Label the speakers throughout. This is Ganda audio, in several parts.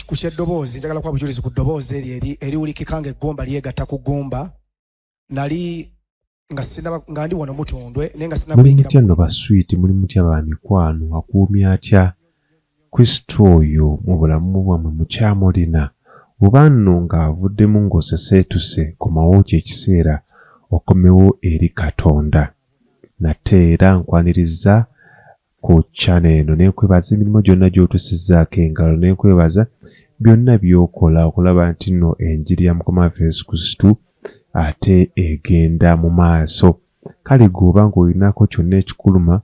Speaker 1: ku kyeddoboozi njagala kuba bujulizi ku ddoboozi eryo eriwulikika nga eggumba lyegatta ku ggumba nali nga sinaba nga ndi wano mutundwe naye nga sinaba kuyingira mutya no baswiiti
Speaker 2: muli mutya ba mikwano akuumye atya kristo oyo mu bulamu bwammwe mukyamulina oba nno ng'avuddemu ng'oseseetuse komawo ky'ekiseera okomewo eri katonda nate era nkwanirizza ku channel eno nekwebaza emirimu gyonna gyotusizaako engalo nekwebaza byonna byokola okulaba nti no enjiri ya mukama waffe yesu kristu ate egenda mu maaso kale gweoba nga olinako kyonna ekikuluma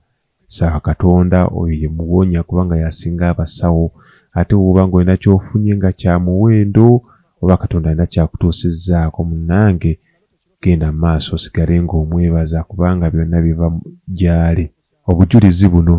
Speaker 2: saba katonda oyo yemuwonya kubanga yasinga abasawo ate woba nga olina kyofunye nga kyamuwendo oba katonda alina kyakutuusizaako munange genda maaso osigale nga omwebaza kubanga byonna biva gyali Obujulizi buno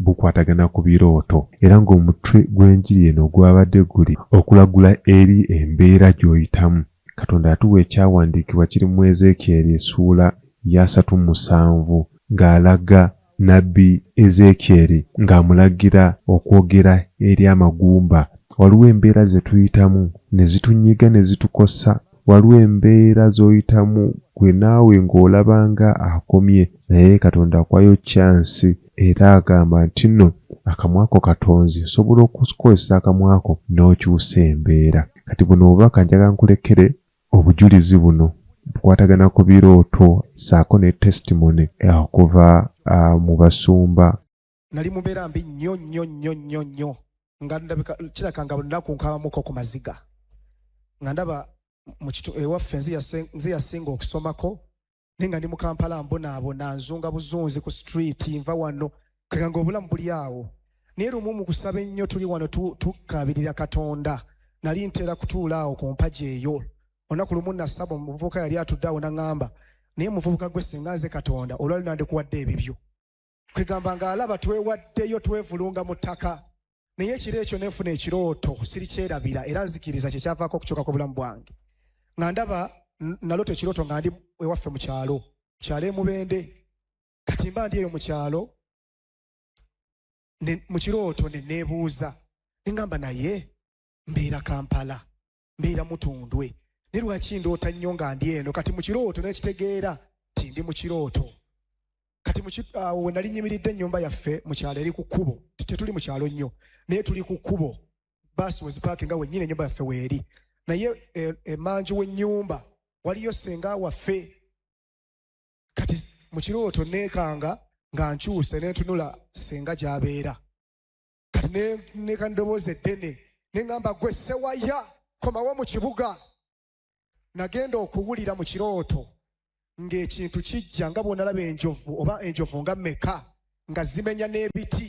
Speaker 2: bukwatagana ku birooto era ng'omutwe gw'enjiri eno gwabadde guli okulagula eri embeera gy'oyitamu. Katonda yatuwa ekyawandiikibwa kiri mu Ezeekyeri essuula yaasatu musanvu ng'alaga nnabbi Ezeekyeri ng'amulagira okwogera eri amagumba. Waliwo embeera ze tuyitamu ne zitunyiga ne zitukosa. Waliwo embeera zoyitamu gwe naawe ng'olaba nga akomye naye Katonda akuwayo chance era agamba ntinno akamwako katonzi nsobola okukozesa akamwako n'okyusa embeera. Kati buno obubaka njagala nkulekere obujulizi buno bukwatagana ku birooto saako ne testimony okuva mu basumba. nali mubeera
Speaker 1: mbi nnyo nnyo nnyo nnyo nnyo nga ndabika kiraka nga lunaku nkabamuko ku maziga nga ndaba mukitu ewaffe nze yasinga okusomako naye nga ndi mu kampala mbonaabona nzunga buzunzi ku street nva wano kaga nga obulamu buli awo naye lumu mu kusaba ennyo tuli wano tukabirira katonda nali ntera kutuula awo ku mpagi eyo olunaku lumu nasaba omuvubuka yali atudde awo naŋŋamba naye muvubuka gwe singa nze katonda olwali nandikuwadde ebibyo kwegamba nga alaba twewaddeyo twevulunga mu ttaka naye ekiro ekyo nefuna ekirooto sirikyerabira era nzikiriza kyekyavaako okukyuka ku bulamu bwange nga ndaba nalota ekirooto nga ndi ewaffe mu kyalo kyalo emubende kati mba ndi eyo mu kyalo mu kirooto ne neebuuza nengamba naye mbeera kampala mbeera mutundwe naye lwaki ndoota nnyo nga ndi eno kati mu kirooto nekitegeera ti ndi mu kirooto kati awo we nali nyimiridde ennyumba yaffe mu kyalo eri ku kkubo tetuli mu kyalo nnyo naye tuli ku kkubo baasi wezipaaki nga wennyini ennyumba yaffe weeri naye e, emanju e, w'ennyumba waliyo senga waffe kati mu kirooto neekanga nga nkyuse nentunula senga gyabeera kati neka ndowooza eddene neŋamba gwe sewaya komawo mu kibuga nagenda okuwulira mu kirooto ng'ekintu kijja nga bwonalaba enjovu oba enjovu nga meka nga zimenya n'ebiti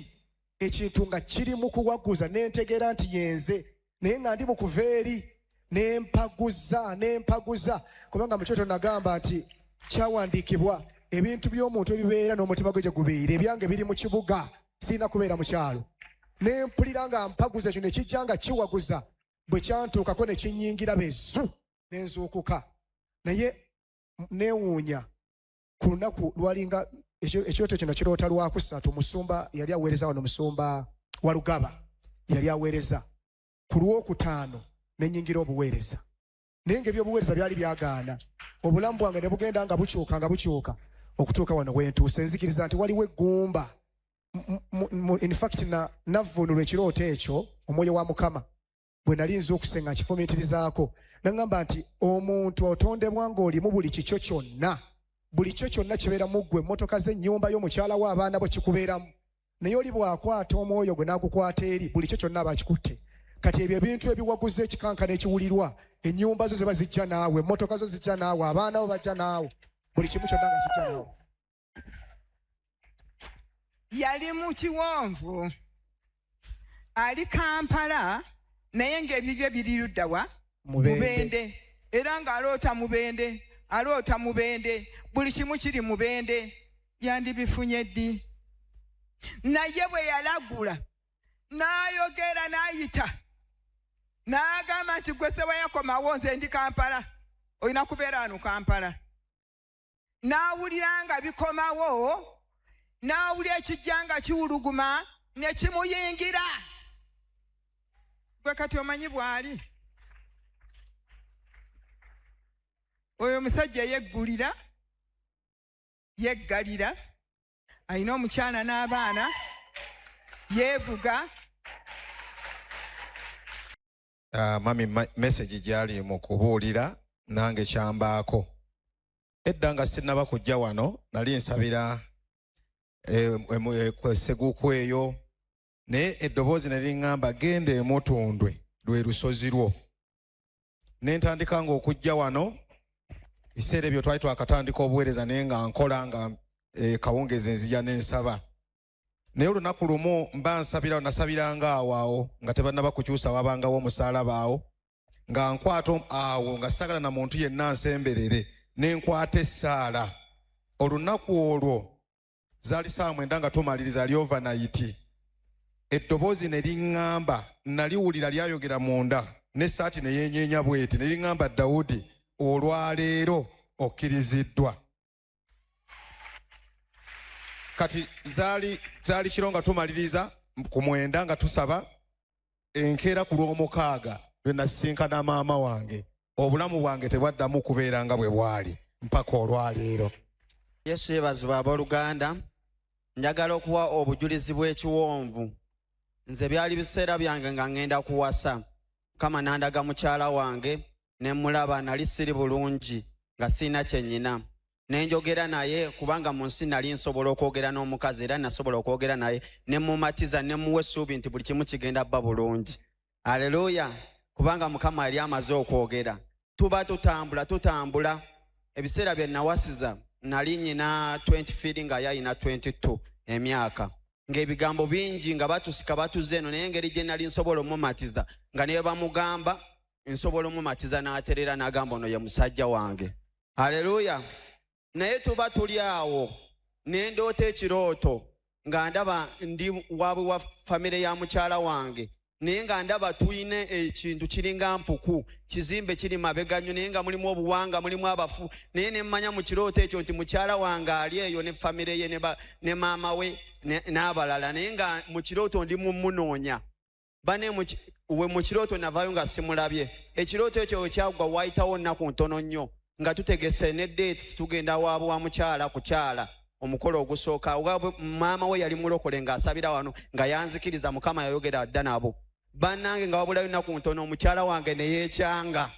Speaker 1: ekintu nga kiri mu kuwaguza nentegeera nti yenze naye nga ndi mukuva eri nempaguza nempaguza kubanga mukyoto nagamba nti kyawandiikibwa ebintu by'omuntu ebibeera n'omutima gwe gye gubeire ebyange biri mu kibuga sirina kubeera mu kyalo ne mpulira nga mpaguza ekyo ne kijja nga kiwaguza bwe kyantuukako ne kinyingira bezu ne nzuukuka naye newuunya ku lunaku lwalinga ekyoto kino kiroota lwakusatu musumba yali aweereza wano musumba walugaba yali aweereza ku lwokutaano nenyingira obuweereza naye nga ebyobuweereza byali byagaana obulamu bwange ne bugenda nga bukyuka nga bukyuka okutuuka wano wentuuse nzikiriza nti waliwo eggumba infact navvuunulwa ekirooto ekyo omwoyo wa mukama bwe nali nza okusenga nkifumiitirizaako naŋŋamba nti omuntu otondebwa ng'olimu buli kikyo kyonna buli kyo kyonna kibeera mu ggwe emmotoka z'ennyumba y'omukyala wo abaana bo kikubeeramu naye oli bw'akwata omwoyo gwe n'agukwata eri buli kyo kyonna aba akikutte kati ebyo ebintu ebiwaguza ekikankana ekiwulirwa ennyumba zo ziba zijja naawe emmotoka zo zijja naawe abaana bo bajja naawe buli kimu kyonna nga kijja naawe
Speaker 3: yali mu kiwonvu ali kampala naye ng'ebibye biri ludda wa mubende era ng'aloota mubende aloota mubende buli kimu kiri mubende yandibifunye ddi naye bwe yalagula n'ayogera n'ayita n'agamba nti gwe sewayakomawo nze ndi kampala olina kubeera wano kampala n'awulira nga bikomawo n'awulira ekijja nga kiwuluguma ne kimuyingira gwe kati omanyi bw'ali oyo omusajja yeggulira yeggalira alina omukyala n'abaana yeevuga
Speaker 4: uh, mami message gyali mu kubuulira nange kyambaako edda nga sinnaba kujja wano nali nsabira eh, eh, eh, seguku eyo naye eddoboozi ne liŋŋamba genda emutundwe lwe lusozi lwo ne ntandika nga okujja wano ebiseera ebyo twali twakatandika obuweereza naye nga nkola nga kawungezi nzija ne nsaba naye olunaku lumu mba nsabirawo nasabiranga awo awo nga tebannaba kukyusa wabangawo omusaalaba awo nga nkwata awo nga sagala na muntu yenna nsemberere ne nkwata essaala olunaku olwo zaali saawa mwenda nga tumaliriza ali ovanayiti eddoboozi ne liŋŋamba naliwulira lyayogera munda n'essaati ne yeenyeenya bweti ne liŋŋamba dawudi olwaleero okkiriziddwa kati zaali zaali kiro nga tumaliriza ku mwenda nga tusaba enkeera ku lw'omukaaga lwe nasisinkana maama wange obulamu bwange tebwaddamu kubeera nga bwe bwali mpaka olwaleero yesu
Speaker 5: yebazibwa abooluganda njagala okuwa obujulizi bw'ekiwonvu nze byali biseera byange nga ŋŋenda kuwasa mukama nandaga mukyala wange ne mmulaba nali siri bulungi nga sirina kye nnyina ne njogera naye kubanga mu nsi nali nsobola okwogera n'omukazi era nasobola okwogera naye ne mmumatiza ne mmuwa essuubi nti buli kimu kigenda bba bulungi aleluya kubanga mukama yali amaze okwogera tuba tutambula tutambula ebiseera bye nawasiza nali nyina 20 firi nga yayina 22 emyaka ng'ebigambo bingi nga batusika batuze eno naye engeri gye nali nsobola omumatiza nga neyo bamugamba nsobola omumatiza n'aterera n'agamba ono ye musajja wange haleluya naye tuba tuli awo nendoota ekirooto nga ndaba ndi wabwe wa famire ya mukyala wange naye nga ndaba tulina ekintu kiringa mpuku kizimbe kiri mabega nnyo naye nga mulimu obuwanga mulimu abafu naye nemmanya mu kirooto ekyo nti mukyala wange ali eyo ne famire ye ne maama we n'abalala naye nga mu kirooto ndi mumunoonya bane we mu kirooto navaayo nga simulabye ekirooto ekyo wekyagwa waayitawo nnaku ntono nnyo nga tutegese ne dates tugenda waabwe wa mukyala kukyala omukolo ogusooka maama we yali mulokole ng'asabira wano nga yanzikiriza mukama yayogera dda nabo bannange nga wabulayo nnaku ntono omukyala wange ne yeekyanga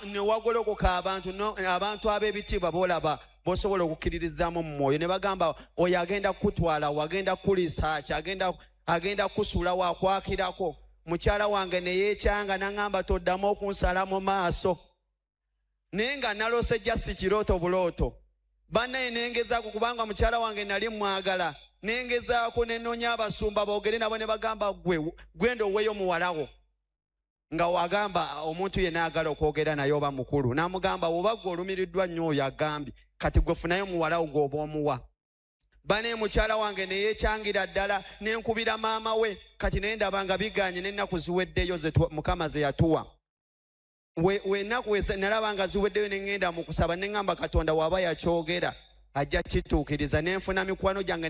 Speaker 5: newagolokoka abantu abantu ab'ebitiibwa boolaba bosobola okukkiririzaamu mu mwoyo ne bagamba oyo agenda kukutwala wagenda kukulisa ki agenda agenda kusula wakwakirako mukyala wange neyekyanga naŋamba toddamu okunsala mu maaso naye nga nalose jasi kirooto bulooto banaye nengezaako kubanga mukyala wange nali mwagala nengezaako nenonya abasumba boogere nabo ne bagamba gwe gwenda oweyo muwalawo nga wagamba omuntu yena agala okwogera naye oba mukulu namugamba woba gwe olumiriddwa nnyo oyo agambye kati gwe funayo muwalawo gwoba omuwa bane mukyala wange neyekyangira ddala nenkubira maama we kati naye ndaba nga biganye nenaku ziweddeyo mukama zeyatuwa wenaku nalaba nga ziweddeyo neŋenda mu kusaba neŋamba katonda waba yakyogera ajja kituukiriza nenfuna mikwano gyange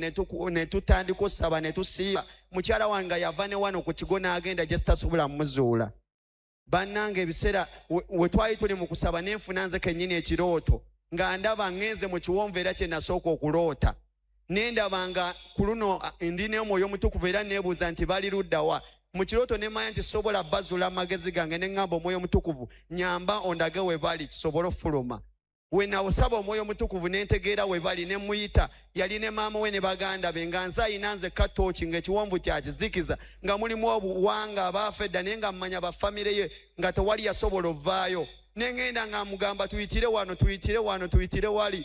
Speaker 5: netutandika okusaba netusiiba mukyala wange nga yava ne wano ku kigo n'agenda gyesitasobola muzuula bannanga ebiseera we twali tuli mu kusaba nenfuna nze kennyini ekirooto nga ndaba ŋenze mu kiwonvu era kye nasooka okuloota nendaba nga ku luno ndi n'omwoyo omutukuvu era neebuuza nti bali luddawa mu kirooto ne manya nti sobola bazula amagezi gange ne ŋŋamba omwoyo omutukuvu nyamba ondage we bali kisobole okufuluma we nawusaba omwoyo omutukuvu ne ntegeera we bali ne mmuyita yali ne maama we ne baganda be nga nze ayina nze katooki ng'ekiwonvu kyakizikiza nga mulimu obuwanga abaafa edda naye nga mmanya bafamire ye nga tewali yasobola ovaayo ne ŋŋenda nga mugamba tuyitire wano tuyitire wano tuyitire wali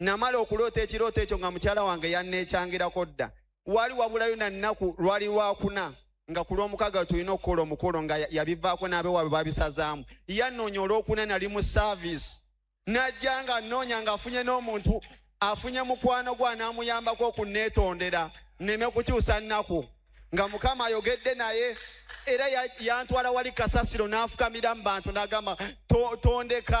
Speaker 5: namala okuloota ekirooto ekyo nga mukyala wange yanneekyangirako dda wali wabulayo na nnaku lwali lwakuna nga ku lw'omukaaga tulina okukola omukolo nga yabivaako n'abewaabwe babisazaamu yanoonya olwokuna nali mu saaviisi najja nga nnoonya ng'afunye n'omuntu afunye mukwano gwe anaamuyambako okunneetondera nneme kukyusa nnaku nga mukama ayogedde naye era yantwala wali kasasiro n'afukamira mu bantu n'agamba tondeka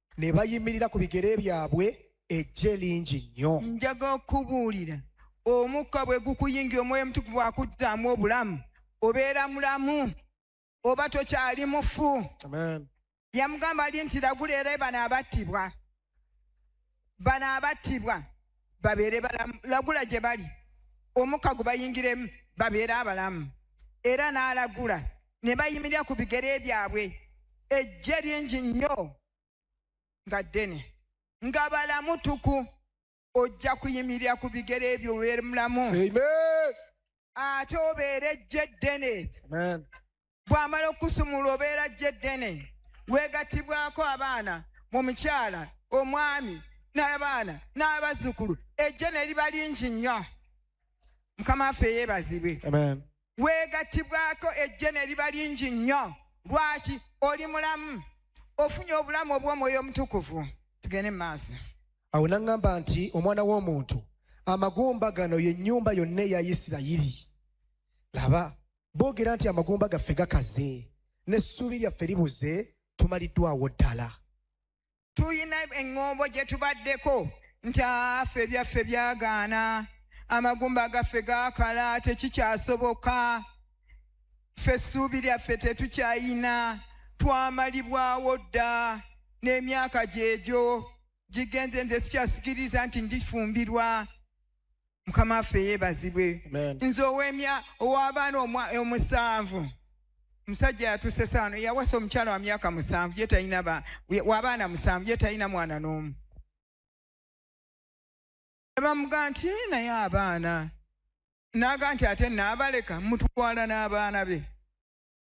Speaker 1: ne bayimirira ku bigere byabwe ejje lingi nnyo njaga okubuulira
Speaker 3: omukka bwe gukuyingira omwoyo omutukuvu akuddaamu obulamu obeera mulamu oba tokyali mufu
Speaker 1: yamugamba ali
Speaker 3: nti lagula era bano abattibwa bano abattibwa babeere balamu lagula gye bali omukka gubayingiremu babeere abalamu era n'alagula ne bayimirira ku bigere byabwe ejje lingi nnyo nga ddene nga balamu tuku ojja kuyimirira ku bigere ebyo obeere mulamu
Speaker 1: ate
Speaker 3: obeere ejje ddene
Speaker 1: bw'amala
Speaker 3: okusumulwa obeera jje ddene weegattibwako abaana mu mukyala omwami n'abaana n'abazzukulu ejje ne liba lingi nnyo mukama waffe yeebazibwe
Speaker 1: weegattibwako
Speaker 3: ejje ne liba lingi nnyo lwaki oli mulamu ofunye obulamu obw'omwoyo omutukuvu tugende mu maaso awo naŋŋamba
Speaker 1: nti omwana w'omuntu amagumba gano ye nnyumba yonna eya isirayiri laba boogera nti amagumba gaffe gakaze n'essuubi lyaffe libuze tumaliddwawo ddala tulina
Speaker 3: eŋŋombo gye tubaddeko nti afe ebyaffe byagaana amagumba gaffe gaakala tekikyasoboka ffe essuubi lyaffe tetukyayina twamalibwawo dda n'emyaka gyegyo gigenze nze sikyasikiriza nti ndifumbirwa mukama waffe yebazibwe nze owemya owabaana omusanvu omusajja yatuse saano yawasa omukyala wa myaka musanvu ye talina wabaana musanvu ye talina mwana n'omu nebamuga nti naye abaana naga nti ate naabaleka mutwala n'abaana be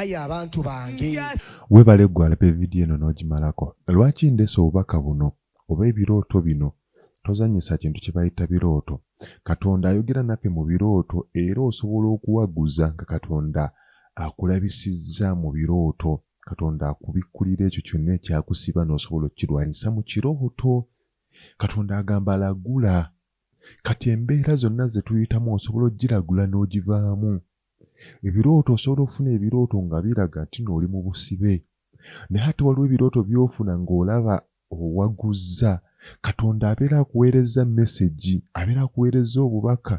Speaker 1: aye abantu bange webale gwe
Speaker 2: alabe vidiyo eno n'ogimalako lwaki ndese obubaka buno oba ebirooto bino tozanyisa kintu kye bayita birooto katonda ayogera naffe mu birooto era osobola okuwaguza nga katonda akulabisizza mu birooto katonda akubikkulira ekyo kyonna ekyakusiba n'osobola okukirwanyisa mu kirooto katonda agamba lagula kati embeera zonna ze tuyitamu osobola okugiragula n'ogivaamu Ebirooto osobola okufuna ebirooto nga biraga nti no oli mu busibe naye ate waliwo ebirooto byofuna ng'olaba owaguzza katonda abeera akuweerezza mesegi abeera akuweerezza obubaka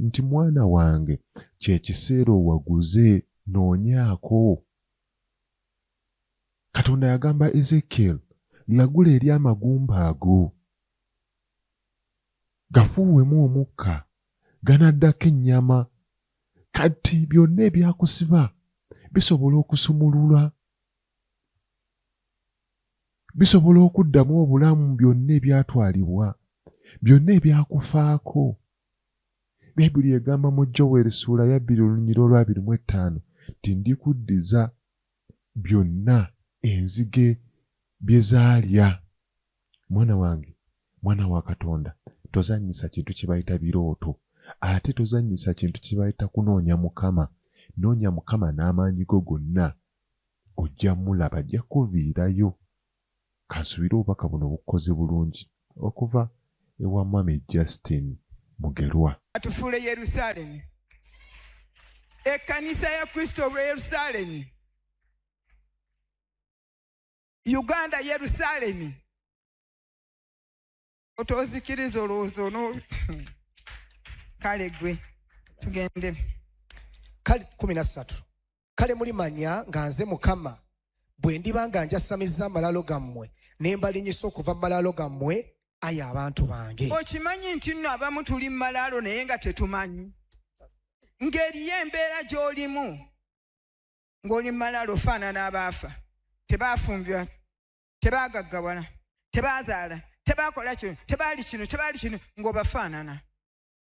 Speaker 2: nti mwana wange kyekiseera owaguze noonyaako katonda yagamba ezekiel lagula eri amagumba ago gafuuwemu omukka ganaddako ennyama kati byonna ebyakusiba bisobola okusumulula bisobola okuddamu obulamu byonna ebyatwalibwa byonna ebyakufaako bayibuli egamba mu joweri ssuula ya bbiri olunyira olwabiri mu ettaano nti ndikuddiza byonna enzige bye zaalya Mwana wange, mwana wa Katonda, tozannyisa kintu kye bayita birooto, ate tozannyisa kintu kye bayita kunoonya Mukama. Noonya Mukama n'amaanyi go gonna, ojja mulaba, ajja kukuviirayo. Kansubire obubaka buno bukukoze bulungi. Okuva ewa Mwami Justin Mugerwa. Atufuule
Speaker 3: Yerusaalemi. Ekkanisa ya Kristo olw'e Yerusaalemi. uganda yerusalemi otozikiriza olowooza ono kale gwe tugende
Speaker 1: kale kumi
Speaker 3: na ssatu
Speaker 1: kale mulimanya nga nze mukama bwe ndiba nga njasamiza amalaalo gammwe ne mbalinyisa okuva mu malaalo gammwe ayi abantu bange okimanyi nti nno
Speaker 3: abamu tuli mu malaalo naye nga tetumanyi ng'eriyo embeera gy'olimu ng'oli malaalo ofaanana abaafa tebaafumbirwa tebaagaggawala tebaazaala tebaakola kino tebaali kino tebaali kino ng'obafaanana